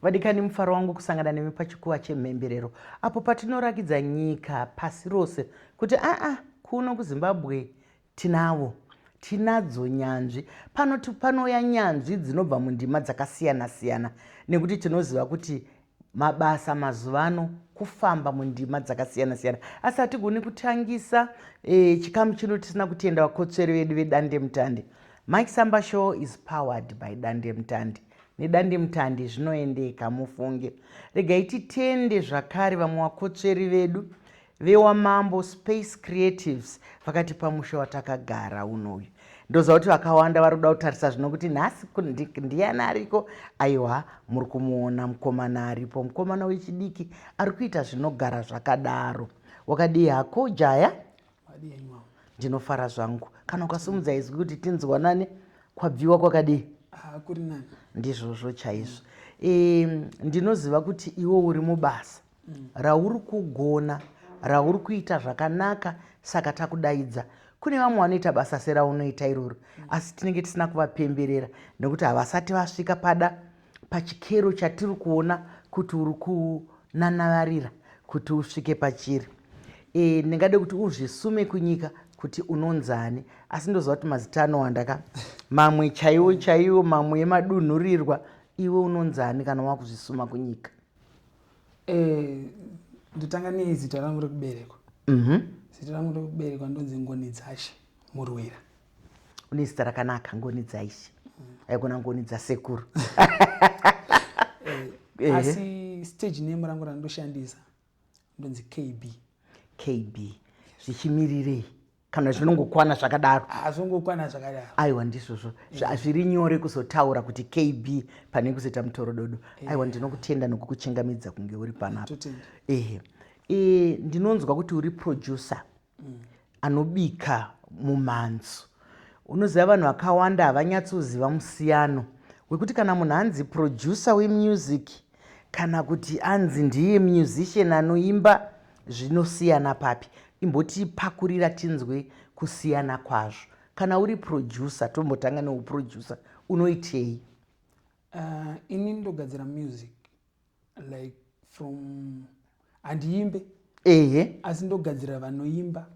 vadikani mufaro wangu kusangana nemi pachikuva chemhemberero apo patinorakidza nyika pasi rose kuti aa kuno kuzimbabwe tinavo tinadzo nyanzvi panoti panouya nyanzvi dzinobva mundima dzakasiyana-siyana nekuti tinoziva kuti mabasa mazuva ano kufamba mundima dzakasiyana siyana asi hatigoni kutangisa e, chikamu chino tisina kutenda vakotsveri vedu vedandemutande mike samba show is powered by dandemutande nedandemutande zvinoendeka mufunge regai titende zvakare vamwe vakotsveri vedu VeWamambo Space Creatives vakati pamusha watakagara uno uyu ndoziva kuti vakawanda vari kuda kutarisa zvino kuti nhasi ndiyani ariko aiwa muri kumuona mukomana aripo mukomana wechidiki ari kuita zvinogara zvakadaro wakadii hako jaya ndinofara zvangu kana ukasimudza izwi kuti tinzwanane kwabviwa kwakadii ah, ndizvozvo chaizvo ndinoziva kuti iwe uri mubasa mm. rauri kugona rauri kuita zvakanaka saka takudaidza kune vamwe vanoita basa seraunoita iroro mm. asi tinenge tisina kuvapemberera nekuti havasati vasvika pada pachikero chatiri kuona kuti uri kunanavarira kuti usvike pachiri e, ndingade kuti uzvisume kunyika kuti unonzani asi ndoziva kuti mazita anowanda ka mamwe chaiwo chaiwo mamwe emadunhurirwa iwe unonzani kana wakuzvisuma kunyika Eh, ndotanga nei zita rangu rekuberekwa mhm. zita rangu rekuberekwa ndonzi ngoni dzashe murwira une zita rakanaka ngoni dzaishe haigona ngoni dzasekuru eh, asi stage name rangu randoshandisa ndonzi kb kb zvichimirirei kana zvinongokwana zvakadaro ah, zvongokwana zvakadaro aiwa ndizvozvo eh. zviri nyore kuzotaura kuti kb pane kuzoita mutorododo eh. aiwa ndinokutenda nokukuchingamidza kunge uri panapa ehe e, ndinonzwa kuti uri producer mm. anobika mumhanzo unoziva vanhu vakawanda havanyatsoziva musiyano wekuti kana munhu anzi producer wemusic Kana kuti anzi ndiye musician anoimba zvinosiyana papi? Imbotipakurira tinzwe kusiyana kwazvo. Kana uri producer tombotanga neuproducer unoitei? Uh, ini ndogadzira music like from handiimbe ehe asi ndogadzira vanoimba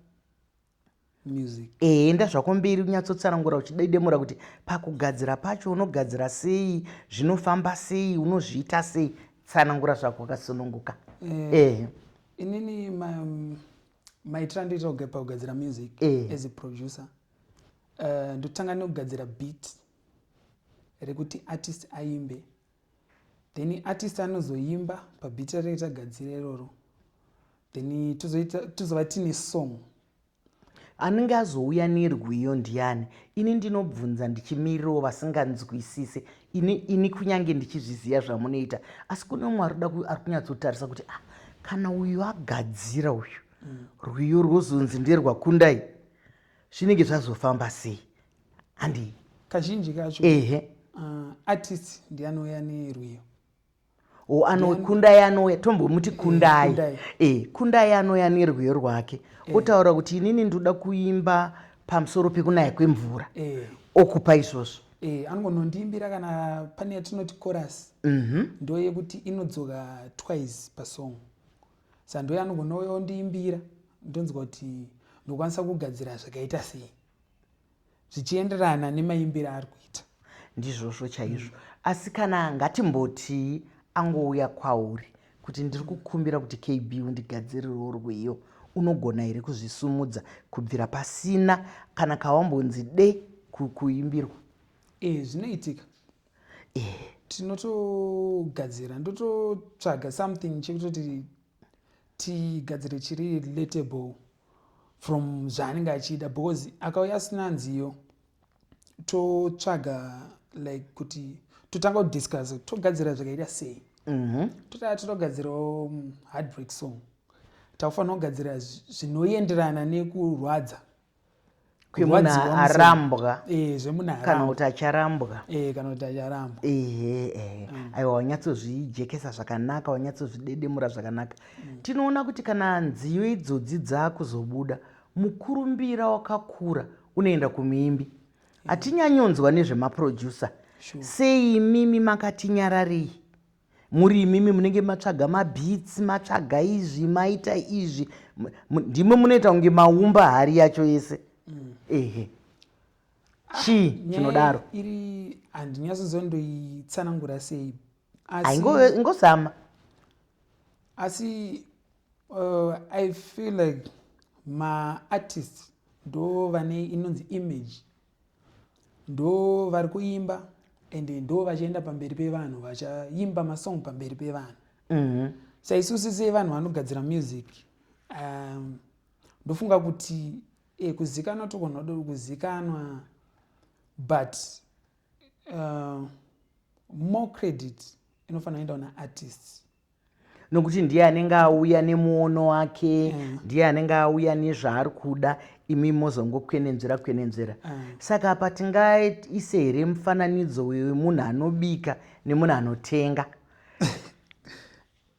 ehe enda zvako mberi unyatsotsanangura uchidaidemura kuti pakugadzira pacho unogadzira sei zvinofamba sei unozviita sei tsanangura zvako wakasununguka eh, ehe inini mm, maitira ndoita kugepa kugadzira music eh. as a producer eh, ndotanga nekugadzira beat rekuti artist aimbe then artist anozoimba pabeat ratinenge tagadzira iroro then tozova tiine song anenge azouya nerwiyo ndiani ini ndinobvunza ndichimirirawo vasinganzwisise ini, ini kunyange ndichizviziva zvamunoita asi kune umwe ari kunyatsotarisa kuti ah, kana uyu agadzira uyu mm. rwiyo rwozonzi nderwakundai zvinenge zvazofamba sei handii kazhinji kacho ehe uh, ah, artist ndiye anouya nerwiyo o ano kundai anouya tombomuti eh, kundai e eh, kundai anouya nerwiyo rwake eh. otaura kuti inini ndoda kuimba pamusoro pekunaya kwemvura e. okupa izvozvo e, anongonondiimbira kana pane yatinoti chorus mm -hmm. ndoyekuti inodzoka twice pasong sa ndoye anongonouya ondiimbira ndonzwa kuti ndokwanisa kugadzira zvakaita sei zvichienderana nemaimbire ari kuita ndizvozvo chaizvo mm. asi kana ngatimbotii angouya kwauri kuti ndiri kukumbira kuti kb undigadzirirewo rwiyo unogona here kuzvisumudza kubvira pasina kana kawambonzi de kuimbirwa e zvinoitika e tinotogadzira ndototsvaga something chekutoti tigadzire chiri relatable from zvaanenge achida because akauya asina nziyo totsvaga like kuti totanga kudiscuss togadzira zvakaita sei mhm. totaa totogadzirawo mm, heartbreak song takufanira kugadzira zvinoenderana nekurwadza kwemunhu arambwa eh, kana kuti acharambwa eh, kana kuti acharambwa ehe ehe mm. aiwa wanyatsozvijekesa zvakanaka wanyatsozvidedemura zvakanaka mm. tinoona kuti kana nziyo idzodzi dzakuzobuda mukurumbira wakakura unoenda kumuimbi eh. hatinyanyonzwa nezvemaproducer sei imimi makatinyararei muri imimi munenge matsvaga mabeats matsvaga izvi maita izvi ndimwe munoita kunge maumba hari yacho yese mm. ehe chii ah, chinodaro iri handinyatsozondoitsanangura sei ingozama asi uh, i feel like maartist ndo vane inonzi image Ndo vari kuimba and ndo vachienda pamberi pevanhu vachaimba masong pamberi pevanhu mm -hmm. saisusi sevanhu vanogadzira music um, ndofunga kuti e, kuzikanwa tokonhoda kuzikanwa but uh, more credit inofanira kuenda una artists nokuti ndiye anenge auya nemuono wake mm. ndiye anenge auya nezvaari kuda imi mozongokwenenzvera kwenenzvera mm. saka apa tingaise here mufananidzo wemunhu anobika nemunhu anotenga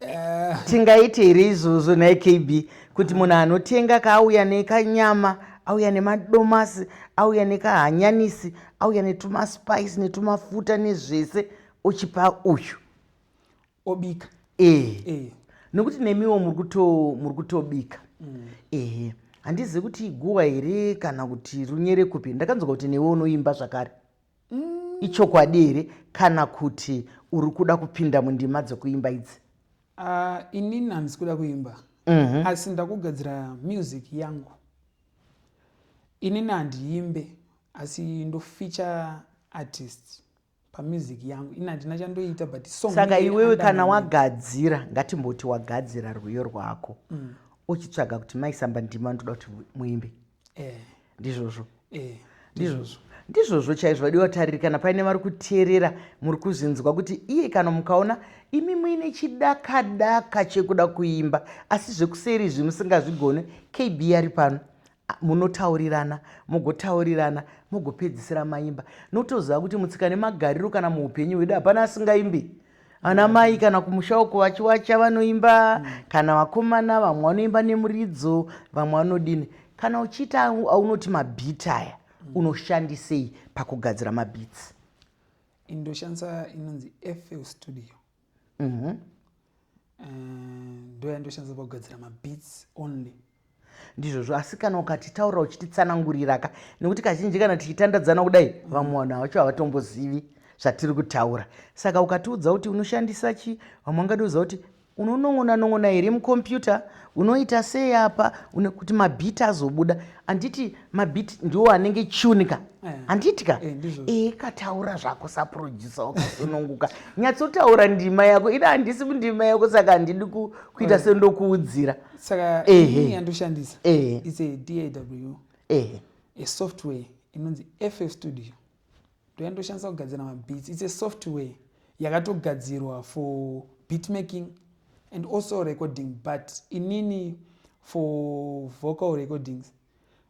eh. tingaite here izvozvo nhai kb kuti munhu anotenga kaauya nekanyama auya nemadomasi auya nekahanyanisi auya netumaspice netumafuta nezvese ochipa uyu obika eh. Eh. nokuti nemiwo muri kutobika mm. ehe handizivi kuti iguwa here kana kuti runyere kupi ndakanzwa kuti newe unoimba zvakare mm. ichokwadi here kana kuti uri kuda kupinda mundima dzekuimba idzi uh, inini handisi kuda kuimba mm -hmm. asi ndakugadzira music yangu inini handiimbe asi ndofeature artist pa music yangu ini handina chandoita but song saka iwewe kana wagadzira ngatimboti wagadzira rwiyo rwako mm. uchitsvaga kuti maisamba ndima ndoda kuti muimbe eh. ndizvozvo eh. ndizvozvo ndizvozvo chaizvo vadiwa tariri kana paine vari kuteerera muri kuzvinzwa kuti iye kana mukaona imi muine chidakadaka chekuda kuimba asi zvekuseri izvi musingazvigone kb ari pano munotaurirana mogotaurirana mogopedzisira maimba notoziva kuti mutsika nemagariro kana muupenyu hwedu hapana asingaimbi ana mai kana kumusha uko vachiwacha vanoimba mm. kana vakomana vamwe vanoimba nemuridzo vamwe vanodini kana uchiita aunoti mabhit aya mm. unoshandisei pakugadzira mabhits ndoshandisa inonzi fl studio Mhm. Eh, ndoyandoshandisa pakugadzira mabeats only ndizvozvo asi kana ukatitaurira uchititsananguriraka nekuti kazhinji kana tichitandadzana kudai vamwe vanhu havacho havatombozivi zvatiri kutaura saka ukatiudza kuti unoshandisa chi vamwe vangatiudza kuti unonon'ona non'ona here mukompyuta unoita sei apa une kuti mabhiti azobuda handiti mabhiti ndiwo anenge chunika eh. handiti ka eh, ee kataura zvako saproducer wakasununguka nyatsotaura ndima yako ida handisi ndima yako saka handidi kuita eh. sendokuudzira saka ehe yandoshandisa ehe it's a daw ehe a software inonzi ff studio ndoyandoshandisa kugadzira mabeats its a software yakatogadzirwa for beat making and also recording but inini for vocal recordings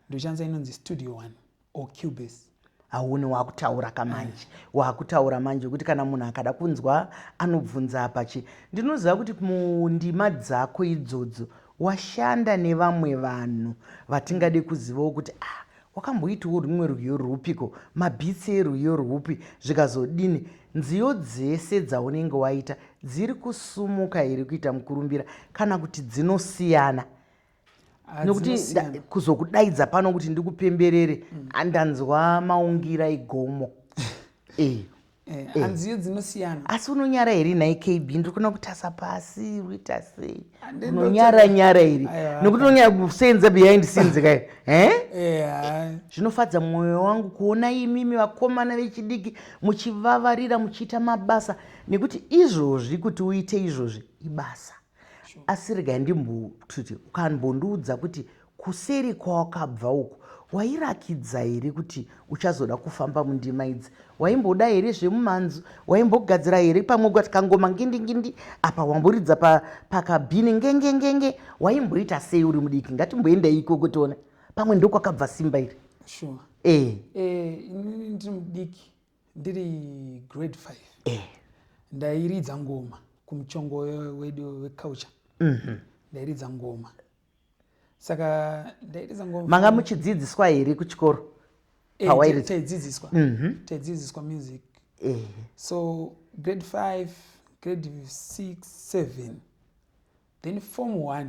ndoshandisa inonzi studio one or cubase hauni wakutaura kamanje eh. wakutaura manje kuti kana munhu akada kunzwa anobvunza apachi ndinoziva kuti mundima dzako idzodzo washanda nevamwe vanhu vatingade kuzivawo kuti ah wakamboitiwo rumwe rwiyo rwupiko mabhitsi erwiyo rwupi zvikazodini nziyo dzese dzaunenge waita dziri kusumuka here kuita mukurumbira kana kuti dzinosiyana nokuti kuzokudaidza pano kuti ndikupemberere mm. andanzwa maungira igomo e Eh, eh. hanziyo dzinosiyana asi unonyara here nhai kb ndiri kuona kutasa pasi uita sei unonyara nyara here nokuti unonyara kusenza behind scenes kai eh? zvinofadza mwoyo wangu kuona imimi vakomana vechidiki muchivavarira muchiita mabasa nekuti izvozvi kuti uite izvozvi ibasa asi regai ndimbotuti ukambondiudza kuti kuseri kwawakabva uku wairakidza here kuti uchazoda kufamba mundima idzi waimboda here zvemumanzu waimbogadzira here pamwe ukati kangoma ngindingindi apa wamboridza pakabhini ngengengenge waimboita sei uri mudiki ngatimboenda iko kutiona pamwe ndokwakabva simba iri sure. e. e, ndiri mudiki ndiri grade 5 eh. ndairidza ngoma kumuchongo wedu weculture mm -hmm. ndairidza ngoma saka ndairidza ngoma manga muchidzidziswa here kuchikoro eh, pawairidza taidzidziswa mm -hmm. taidzidziswa music eh. so grade 5 grade 6 7 then form 1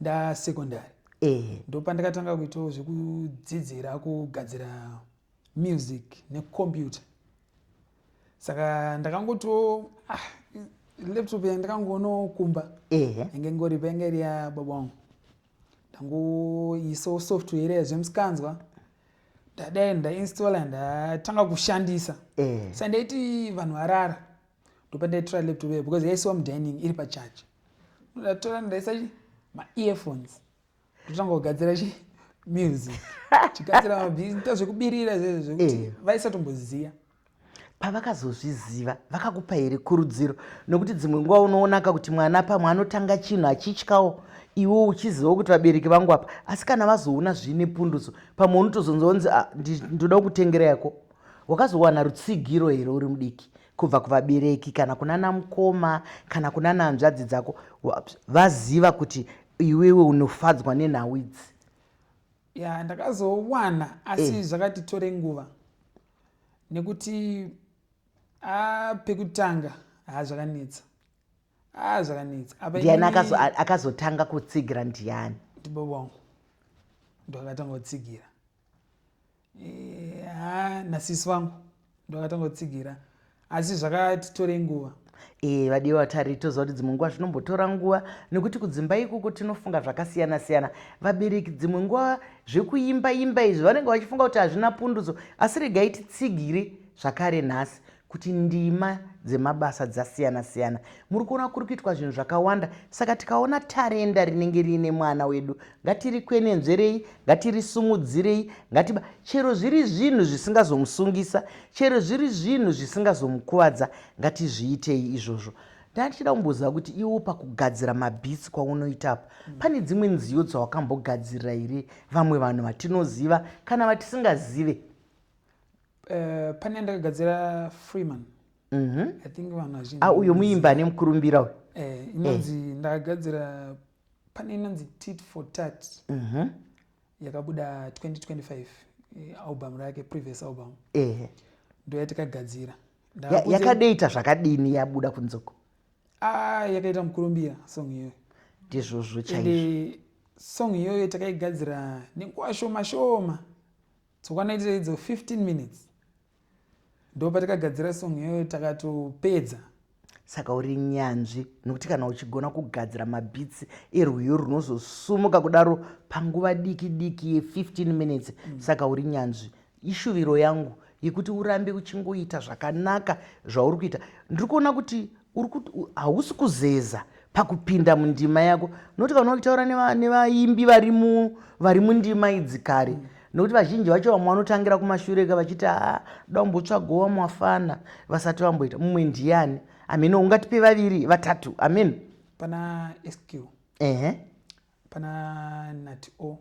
ndasecondary eh. ndopandakatanga kuitawo zvekudzidzira kugadzira music necomputer saka ndakangoto ah, laptop ya ndakangonokumba yange ngori painge iri yababa wangu ndangoisawo software yazvemusikanzwa ndadai ndainstalla ndatanga kushandisa sa ndaiti vanhu varara ndopandaitora laptop ya because yaisiwa mudining iri pacharge ndatora ndaisa maearphones kutanga kugadzira chi music chigadzira mabhizinita zvekubirira izvezvo zvekuti eh. vaisatomboziva pavakazozviziva vakakupa here kurudziro nokuti dzimwe nguva unoonaka kuti mwana pamwe anotanga chinhu achityawo iwo uchizivawo kuti vabereki vangu apa asi kana vazoona zvine punduso pamwe unotozonzonzi ah, ndoda kukutengera yako wakazowana rutsigiro here uri mudiki kubva kuvabereki kana kunana mukoma kana kunana hanzvadzi dzako vaziva kuti iwewe unofadzwa nenhau idzi ya ndakazowana asi eh. zvakatitore nguva nekuti a ah, pekutanga haa ah, zvakanetsa haa ah, zvakanetsa ndiani akazotanga kutsigira ndiani ndibaba wangu ndakatanga kutsigira Eh, ha nasisi vangu ndovakatanga kutsigira asi zvakatitorei nguva ee eh, vadiwa vatari toziva kuti dzimwe nguva zvinombotora nguva nekuti kudzimba ikoko tinofunga zvakasiyana siyana vabereki dzimwe nguva zvekuimba imba izvi vanenge vachifunga kuti hazvina pundutso asi regai titsigiri zvakare nhasi kuti ndima dzemabasa dzasiyana siyana muri kuona kuri kuitwa zvinhu zvakawanda saka tikaona tarenda rinenge riine mwana wedu ngatirikwenenzverei ngatirisumudzirei ngatiba chero zviri zvinhu zvisingazomusungisa chero zviri zvinhu zvisingazomukuvadza ngatizviitei izvozvo ndatichida kumboziva kuti iwo pakugadzira mabhitsi kwaunoita apa mm. pane dzimwe nziyo dzawakambogadzirira here vamwe vanhu vatinoziva kana vatisingazive Eh, pane yandakagadzira freeman mhm. i think vanhu vazhinji ah, uyo muimba ane mukurumbira uyo eh, inonzi eh. ndakagadzira pane inonzi tit for tat mhm. yakabuda 2025 album rake previous album ndoyatikagadzira yakadeita zvakadini yabuda kunzoko ah, yakaita mukurumbira song iyoyo ndizvozvo chaizvo song iyoyo takaigadzira nenguva shoma shoma Tsokana itai idzo 15 minutes ndopatakagadzira song iyoyo takatopedza. Saka uri nyanzvi nokuti kana uchigona kugadzira mabhitsi erwiyo runozosumuka kudaro panguva diki diki ye 15 minutes mm. saka uri nyanzvi. Ishuviro yangu yekuti urambe uchingoita zvakanaka zvauri kuita. Ndiri kuona kuti uri kuti hausi kuzeza pakupinda mundima yako nokuti kana ukitaura nevaimbi vari mundima idzi kare nokuti vazhinji vacho vamwe vanotangira kumashureka vachiti haa da umbotsvago vamwe wafana vasati vamboita mumwe ndiyani amene ungatipe vaviri vatatu amen pana sq ehe Pana Nati O.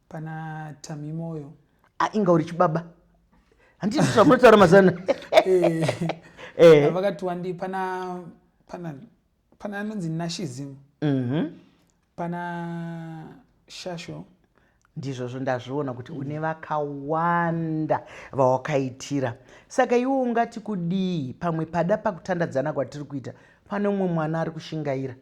Pana Tamimoyo. Ah, inga uri chibaba. Handiti zvamunotaura mazana. Eh. Eh. Vakati wandi pana pana pana anonzi Nashizim. Mhm. Pana Shasho. ndizvozvo ndazviona kuti mm. une vakawanda vawakaitira saka iwe ungati kudii pamwe pada pakutandadzana kwatiri kuita pane umwe mwana ari kushingaira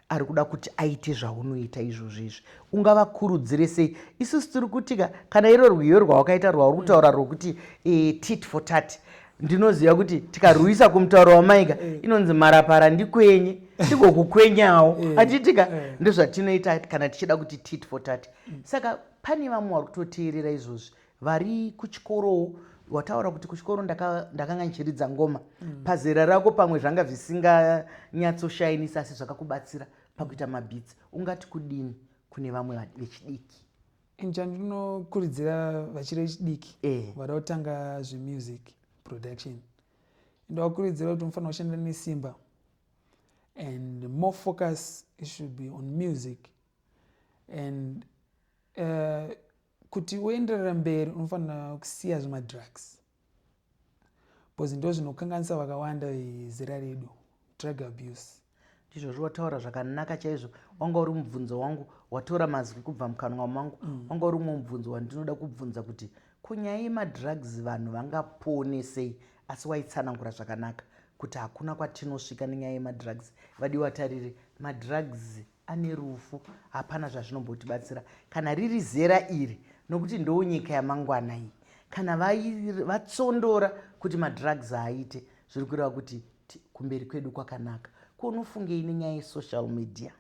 ari kuda kuti aite zvaunoita izvozvo izvi ungavakurudzire sei isusu tiri kuti ka kana iro rwiyo rwawakaita rwauri kutaura rwokuti e, tit for tat ndinoziva kuti tikarwisa kumutauro wamaika eh. inonzi marapara ndikwenye ndigokukwenyawo eh. atiitika eh. ndozvatinoita kana tichida kuti tit for tat saka pane vamwe vari kutoteerera izvozvi vari kuchikoro wataura kuti kuchikoro ndakanga ndichiridza ngoma mm. pazera rako pamwe zvanga zvisinganyatsoshainisa asi zvakakubatsira pakuita mabhitsi ungati kudini kune vamwe vechidiki inja ndinokurudzira vachiri vechidiki eh. vada kutanga zvemusic production ndovakurudzira kuti mufanira kushanda nesimba and more focus should be on music and uh, Kuti uenderere mberi unofanira kusiya zvemadrugs because ndozvinokanganisa vakawanda vezera redu drug abuse. Ndizvozvo wataura zvakanaka chaizvo wanga uri mubvunzo wangu watora mazwi kubva mukanwa mangu mm. wanga uri umwe mubvunzo wandinoda kubvunza kuti ko nyaya yemadrugs vanhu vangapone sei asi waitsanangura zvakanaka kuti hakuna kwatinosvika nenyaya yemadrugs vadiwa tarire madrugs ane rufu hapana zvazvinombotibatsira kana riri zera iri nokuti ndoo nyika yamangwana iyi kana vatsondora kuti madrugs haaite zviri kureva kuti kumberi kwedu kwakanaka ko unofungei nenyaya yesocial media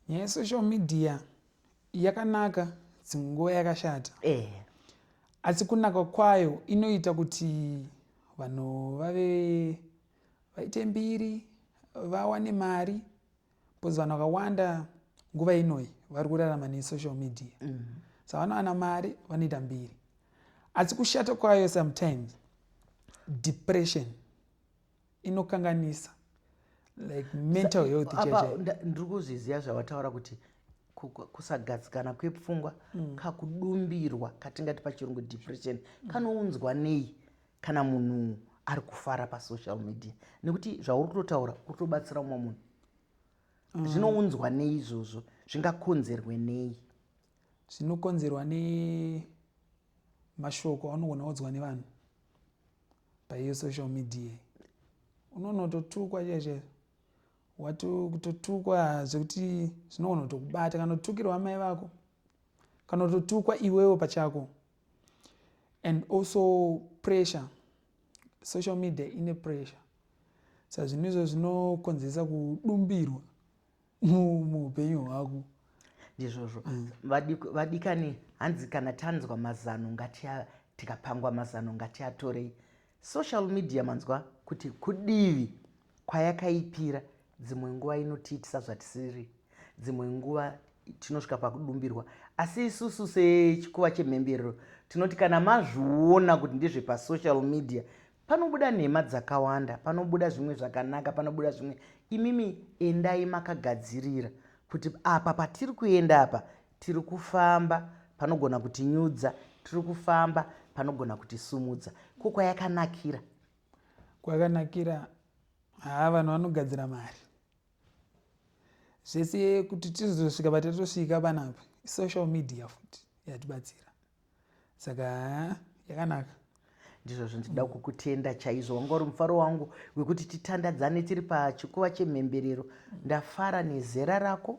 nyaya yesocial media yakanaka dzimwe nguva yakashata eh. asi kunaka kwayo inoita kuti vanhu vave vaite mbiri vawane mari because vanhu vakawanda nguva inoyi vari kurarama nesocial media mm. so vanowana mari vanoita mbiri asi kushata kwayo sometimes depression inokanganisa like mental health ndiri kuzviziva zvavataura kuti kusagadzikana kwepfungwa mm. kakudumbirwa katingati pachirungu depression mm. kanounzwa nei kana munhu ari kufara pasocial media nekuti zvauri kutotaura uri kutobatsira umwe munhu mm. zvinounzwa nei izvozvo zvingakonzerwe nei zvinokonzerwa nemashoko aunogona udzwa nevanhu paiyo social media unonototukwa chaicho watokutotukwa zvekuti zvinogona kutokubata kana kutukirwa amai vako kana kutotukwa iwewo pachako and also pressure social media ine pressure sa zvinhu izvo zvinokonzeresa kudumbirwa muupenyu hwako ndizvozvo mm. vadikani hanzi kana tanzwa mazano ngatia tikapangwa mazano ngatiatorei Social media manzwa kuti kudivi kwayakaipira dzimwe nguva inotiitisa zvatisiri dzimwe nguva tinosvika pakudumbirwa asi isusu sechikuva chemhemberero tinoti kana mazviona kuti ndezvepasocial media panobuda nhema dzakawanda panobuda zvimwe zvakanaka panobuda zvimwe imimi endai makagadzirira kuti apa patiri kuenda apa Tiri kufamba, panogona kutinyudza. Tiri kufamba, panogona kutisumudza. Ko kwayakanakira? Kwakanakira, haa vanhu vanogadzira mari. Zvese kuti tizosvika patatosvika panapa, social media futi yatibatsira. saka yakanaka ndizvo zvandida mm. kukutenda chaizvo wanga uri mufaro wangu wekuti titandadzane tiri pachikuva chemhemberero mm. ndafara nezera rako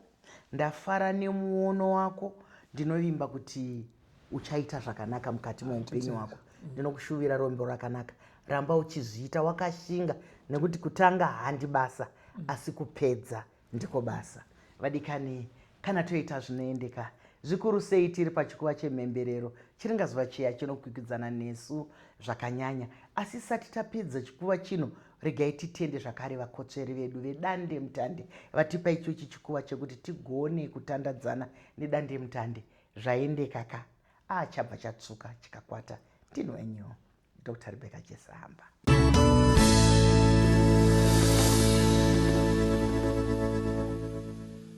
ndafara nemuono wako ndinovimba kuti uchaita zvakanaka mukati meupenyu wako mm. ndinokushuvira rombo rakanaka ramba uchizviita wakashinga nekuti kutanga handi basa asi kupedza Ndiko basa. Vadikani, kana toita zvinoendeka, zvikuru sei tiri pachikuva chemhemberero, chiringazuva chiya chinokwikwidzana nesu zvakanyanya. Asi isati tapedza chikuva chino, regai titende zvakare vakotsveri vedu vedandemutande vatipa ichochi chikuva chekuti tigone kutandadzana nedandemutande. Zvaendeka ka. A chabva chatsvuka chikakwata. Ndini wenyu. dr rebecca chesamba